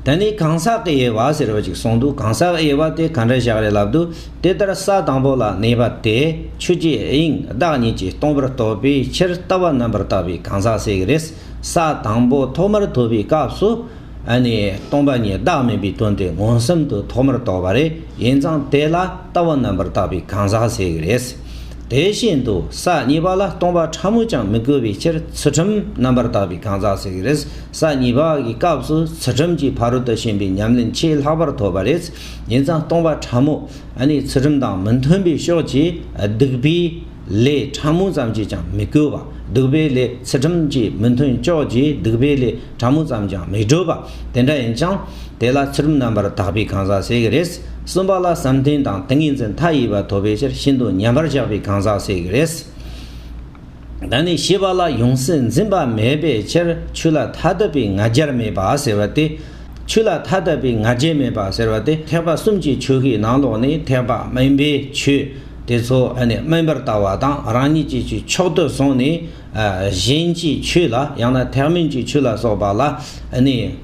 ད་ནི་གང་ཟག་གི་དབྱེ་བ་ཟེར་བ་ཅིག་གསུངས་འདུག་གང་ཟག་དབྱེ་བ་དེ་ག་འདྲ་བཞག་རེད་ལབ་འདུག་དེ་ལྟར་ས་དང་པོ་ལ་གནས་པ་དེ་ཆུ་སྐྱེས་དབྱིངས་བདག་ཉིད་ཀྱིས་སྟོང་པར་རྟོགས་པའི་ཕྱིར་ལྟ་བ་རྣམ་པར་དག་པའི་གང་ཟག་སྲེག་རེས་ས་དང་པོ་ཐོག་མར་ཐོབ་པའི་སྐབས་སུ། ནི་སྟོང་པ་ཉིད་བདག་མིན་པའི་དོན་དེ་མངོན་སུམ་དུ་ཐོག་མར་རྟོགས་པ་རེད་ཡིན་ཙང་དེ་ལ་ལྟ་བ་རྣམ་པར་དག་པའི་གང་ཟག་སྲེག་རེས། དེ་བཞིན་དུ་ས་གཉིས་པ་ལ་སྟོང་པ་ཕྲ་མོས་ཀྱང་མི་བསྐུལ་བའི་ཕྱིར་ཚུལ་ཁྲིམས་རྣམ་པར་དག་པའི་གང་ཟག་ཟེར་གྱི་རེད། ས་གཉིས་པ་འི་སྐབས་སུ་ཚུལ་ཁྲིམས་ཀྱི་ཕ་རོལ་ཏུ་ཕྱིན་པའི་ཉམས་ལེན་ཆེས་ལྷག་པར་ཐོབ་པ་རེད། ཡིན་ཙང་སྟོང་པ་ཕྲ་མོ་འི་ཚུལ་ཁྲིམས་དང་མི་མཐུན་པའི་ཕྱོགས་ཀྱི་སྡིག་པའི་ལས་ཕྲ་མོ་ཙམ་གྱིས་ཀྱང་མི་བསྐུལ་བ། སྡིག་པའི་ལས་ཚུལ་ཁྲིམས་ཀྱི་མི་མཐུན་ཕྱོགས་ཀྱི་སྡིག་པའི་ལས། ཕྲ་མོ་ཙམ་ཀྱང་མི་སྤྲོ་བ་དེ་འདྲ་ཡིན་ཀྱང། དེ་ལ་ཚུལ་རྣམ་པར་དག་པའི་གང་ཟག་སྲེག་གི་རེད། གསུམ་པ་ལ་བསམ་གཏན་དང་ཏིང་ངེ་འཛིན་མཐའ་ཡས་པ་ཐོབ་པའི་ཕྱིར་ཤིན་ཏུ་ཉམས་པར་བཞག་པའི་གང་ཟག་སྲེག་གི་རེད། ད་ནི་ཞེས་པ་ལ་ཡོངས་སུ་འཛིན་པ་མེད་པའི་ཕྱིར་ཆོས་ལ་མཐའ་དག་པའི་ང་རྒྱལ་མེད་པ་ཟེར་བ་སྟེ། ཆོས་ལ་མཐའ་དག་པའི་ང་རྒྱལ་མེད་པ་ཟེར་བ་དེ་ཐེག་པ་གསུམ་གྱི་ཆོས་ཀྱི་ནང་ལོགས་ནས་ཐེག་པ་དམན་པའི་ཆོས་དེ་ཚོ་དམན་པར་ལྟ་བ་དང་རང་ཉིད་ཀྱི་ཕྱོགས་དུ་སོང་ནས། གཞན་གྱི་ཆོས་ལ་ཡང་ན་ཐེག་དམན་གྱི་ཆོས་ལ་སོགས་པ་ལ་ནི་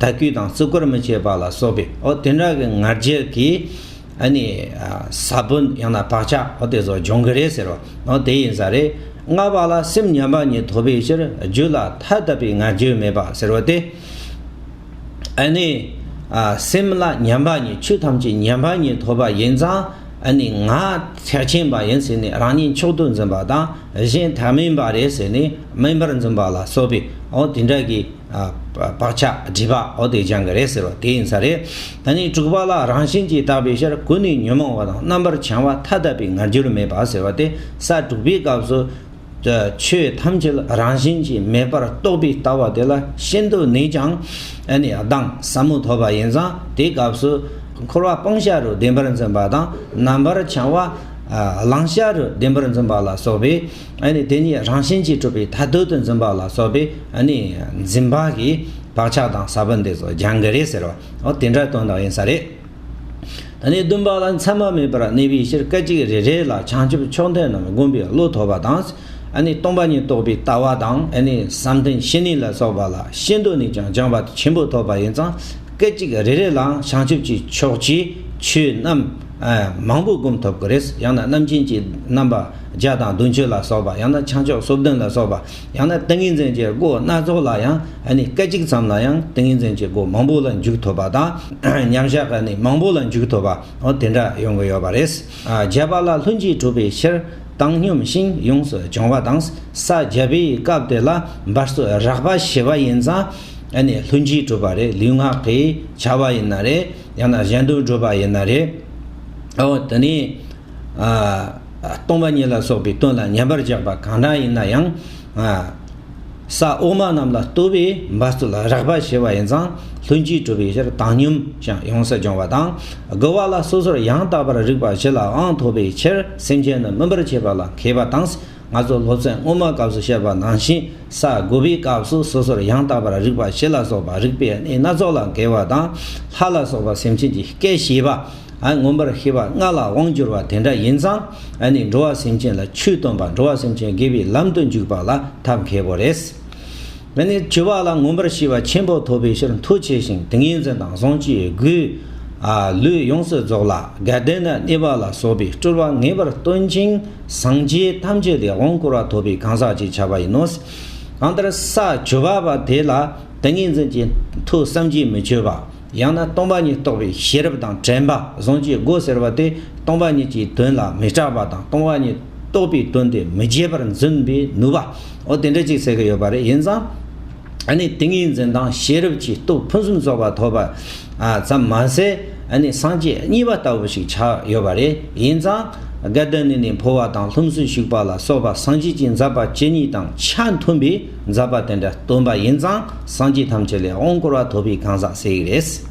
དད་གུས་དང་བརྩི་བཀུར་མི་བྱེད་པ་ལ་སོགས་པའི་འོ་དེ་འདྲ་གི་ང་རྒྱལ་གྱིས་ནི་ས་བོན་ཡང་ན་བག་ཆགས་འོ་དེ་ཚོ་སྦྱོང་གི་རེད་ཟེར་བ་འོ་དེ་ཡིན་ས་རེད། ལྔ་པ་ལ་སེམས་མཉམ་པ་ཉིད་ཐོབ་པའི་ཕྱིར་རྒྱུད་ལ་ཐ་དད་པའི་ང་རྒྱལ་མེད་པ་ཟེར་བ་སྟེ། སེམས་ལ་མཉམ་པ་ཉིད་ཆོས་ཐམས་ཅད་མཉམ་པ་ཉིད་ཐོབ་པ་ཡིན་ཙང། ནི་ང་ཚེགས་ཆེན་པ་ཡིན་ཟེར་ནས་རང་ཉིད་མཆོག་ཏུ་འཛིན་པ་དང་གཞན་དག་དམན་པ་རེད་ཟེར་ནས་དམན་པར་འཛིན་པ་ལ་སོགས་པའི་འོ་དེ་འདྲ་གི་བག་ཆགས་སྒྲིབ་པ་འོ་དེ་སྦྱང་གི་རེད་ཟེར་བ་དེ་ཡིན་ས་རེད། ད་ནི་དྲུག་པ་ལ་རང་བཞིན་གྱིས་དག་པའི་ཕྱིར་ཀུན་ནས་ཉོན་མོངས་པ་དང་རྣམ་པར་བྱང་བ་མཐའ་དག་པའི་ང་རྒྱུར་མེད་པ་ཟེར་བ་དེ་ས་དྲུག་པའི་སྐབས་སུ། དུ་ཆོས་ཐམས་ཅད་ལ་རང་བཞིན་གྱིས་མེད་པར་རྟོགས་པའི་ལྟ་བ་དེ་ལ་ཤིན་ཏུ་ནུས་ཀྱང། ཨ་ནི་གདངས་ཟབ་མོ་ཐོབ་པ་ཡིན་ཙང་དེའི་སྐབས་སུ། འཁོར་བ་སྤང་བྱ་རུ་བདེན་པར་འཛིན་པ་དང་རྣམ་པར་བྱང་བ། བླང་བྱ་རུ་བདེན་པར་འཛིན་པ་ལ་སོགས་པས་ཨ་ནི་དེ་གཉིས་རང་བཞིན་གྱིས་གྲུབ་པའི་མཐའ་སྡུད་དུ་འཛིན་པ་ལ་སོགས་པས་ཨ་ནི་འཛིན་པ་གི་བག་ཆགས་གདངས་ཟབ་པོ་འདི་ཚོ་སྦྱང་གི་རེད་ཟེར་བ་འོ་དེ་འདྲ་དོན་དག་ཡིན་ས་རེད། ད་ནི་བདུན་པ་ལ་མཚན་མ་མེད་པར་གནས་པའི་ཕྱིར་སྐད་ཅིག་རེ་རེ་ལ་བྱང་ཆུབ་མཆོག་འདི་རྣམས་བསྒོམ་པའི་བློ་ཐོབ་པ་དང། སྟོང་པ་ཉིད་རྟོགས་པའི་ལྟ་བ་དང། བསམ་གཏན་བཞི་ནི་ལ་སོགས་པ་ལ་ཤེས་འདོད་ནས་ཀྱང་སྦྱངས་པ་ཆེན་པོ་ཐོབ་པ་ཡིན་ཙང་སྐད་ཅིག་རེ་རེ་ལའང་བྱང་ཆུབ་ཀྱི་ཕྱོགས་ཀྱི་ཆོས་རྣམས་མང་པོ་བསྒོམ་ཐུབ་ཀྱི་རེད། ཡང་ན་རྣམ་མཁྱེན་གྱི་རྣམ་པ་བརྒྱ་དང་བདུན་ཅུ་ལ་སོགས་པ་ཡང་ན་བྱང་ཕྱོགས་སོ་བདུན་ལ་སོགས་པ། ཡང་ན་ཏིང་ངེ་འཛིན་གྱི་སྒོ་སྣ་ཚོགས་ལ་ཡང་སྐད་ཅིག་ཙམ་ལ་ཡང་ཏིང་ངེ་འཛིན་གྱི་སྒོ་མང་པོ་ལ་འཇུག་ཐུབ་པ་དང་མཉམ་གཞག་གི་གནས་མང་པོ་ལ་འཇུག་ཐུབ་པ་དེ་འདྲ་ཡོང་གི་ཡོད་པ་རེད། བརྒྱད་པ་ལ་ལྷུན་གྱིས་གྲུབ་པའི་ཕྱིར་བཏང་སྙོམས་ཤིང་ཡོངས་སུ་སྦྱོང་བ་དང་ས་བརྒྱད་པའི་སྐབས་དེ་ལ་འབར་སོ་རགས་པ་ཞེས་པ་ཡིན་ཙང་ལྷུན་གྱིས་གྲུབ་པ་རེད་ལུས་ངག་གིས་བྱ་བ་ཡིན་ན་རེད་ཡང་ན་གཞན་དོན་སྒྲུབ་པ་ཡིན་ན་རེད། དེ་ནས། སྟོང་པ་ཉིད་ལ་སོགས་པའི་དོན་ལ་ཉན་པར་བཞག་པ་གང་དག་ཡིན་ན་ཡང། ས་འོག་མ་རྣམས་ལ་ལྟོས་པའི་འབབ་རྩོལ་ལ་རགས་པ་ཞེས་པ་ཡིན་ཙང་ལྷུན་གྱིས་གྲུབ་པའི་ཕྱིར་བཏང་སྙོམས་ཀྱང་ཡོངས་སུ་སྦྱོང་བ་དང། དགེ་བ་ལ་སོ་སོར་ཡང་དག་པར་རིག་པ་བྱེད་ལའང་ཐོབ་པའི་ཕྱིར་སེམས་ཅན་རྣམས་སྨིན་པར་བྱེད་པ་ལ་མཁས་པ་དང། ང་ཚོ་སློབ་ཚན་སྔོན་མ་སྐབས་སུ་བཤད་པ་ནང་བཞིན་ས་དགུ་པའི་སྐབས་སུ་སོ་སོར་ཡང་དག་པར་རིག་པ་བཞི་ལ་སོགས་པ་རིག་པའི་གནས་སྣ་ཚོགས་ལ་འགལ་བ་དང། ལྷ་ལ་སོགས་པ་སེམས་ཅན་གྱི་སྐད་བྱིས་པ། མངོན་པར་ཤེས་པ་ལྔ་ལ་དབང་བསྒྱུར་བ་དེ་འདྲ་ཡིན་ཙང་འགྲོ་བ་སེམས་ཅན་ལ་ཆོས་སྟོན་པ་འགྲོ་བ་སེམས་ཅན་དགེ་བའི་ལམ་དུ་འཇུག་པ་ལ་ཐབས་མཁས་པོ་རེད། འདི་ནི་བྱིས་པ་ལ་མངོན་པར་ཤེས་པ་ཆེན་པོ་ཐོབ་པའི་ཕྱིར་མཐུ་ཆེ་ཞིང་ཏིང་ངེ་འཛིན་དང་བཟང་སྤྱོད་རྒུའི་ལུས་ཡོངས་སུ་རྫོགས་ལ་དགའ་ལྡན་དང་བརྙེས་པ་ལ་སོགས་པའི་སྤྲུལ་པ་ངེས་པར་སྟོན་ཅིང་སངས་རྒྱས་ཐམས་ཅད་ལས་དབང་བསྐུར་བ་ཐོབ་པའི་གང་ཟག་ཅེས་བྱ་བ་ཡིན་ནོ། གང་ལྟར་ས་བཅུ་པ་པ་དེ་ལ་ཏིང་ངེ་འཛིན་གྱི་མཐུ་བསམ་གྱིས་མི་ཁྱོད་པ། ཡང་ན་སྟོང་པ་ཉིད་རྟོགས་པའི་ཤེས་རབ་དང་དྲན་པ་གཟུང་བྱའི་སྒོ་ཟེར་བ་དེ་སྟོང་པ་ཉིད་ཀྱི་དོན་ལ་མི་སྐྲག་པ་དང་སྟོང་པ་ཉིད་རྟོགས་པའི་དོན་དེ་མི་བརྗེད་པར་འཛིན་པའི་ནུས་པའོ། དེ་འདྲ་ཅིག་ཟེར་གྱི་ཡོད་པ་རེད་ཡིན་ཙང། ཨ་ནི་ཏིང་ངེ་འཛིན་དང་ཤེས་རབ་ཀྱི་སྟོབས་ཕུན་སུམ་ཚོགས་པ་ཐོབ་པ་ཙམ་མ་ཟད་ཨ་ནི་སངས་རྒྱས་གཉིས་པ་ལྟ་བུ་ཞིག་ཆགས་ཡོད་པ་རེད་ཡིན་ཙང། སྒ་དེ་ནི་ནས་འཕོ་བ་དང་ལྷུམས་སུ་ཞུགས་པ་ལ་སོགས་པ་སངས་རྒྱས་ཀྱི་འཛག་པ་ཇི་སྙེད་དང་ཆ་མཐུན་པའི་མཛད་པ་དེ་འདྲ་སྟོན་པ་ཡིན་ཙང་སངས་རྒྱས་ཐམས་ཅད་ལས་དབང་བསྐུར་བ་ཐོབ་པའི་གང་ཟག་བསད་ཡིག་རེད།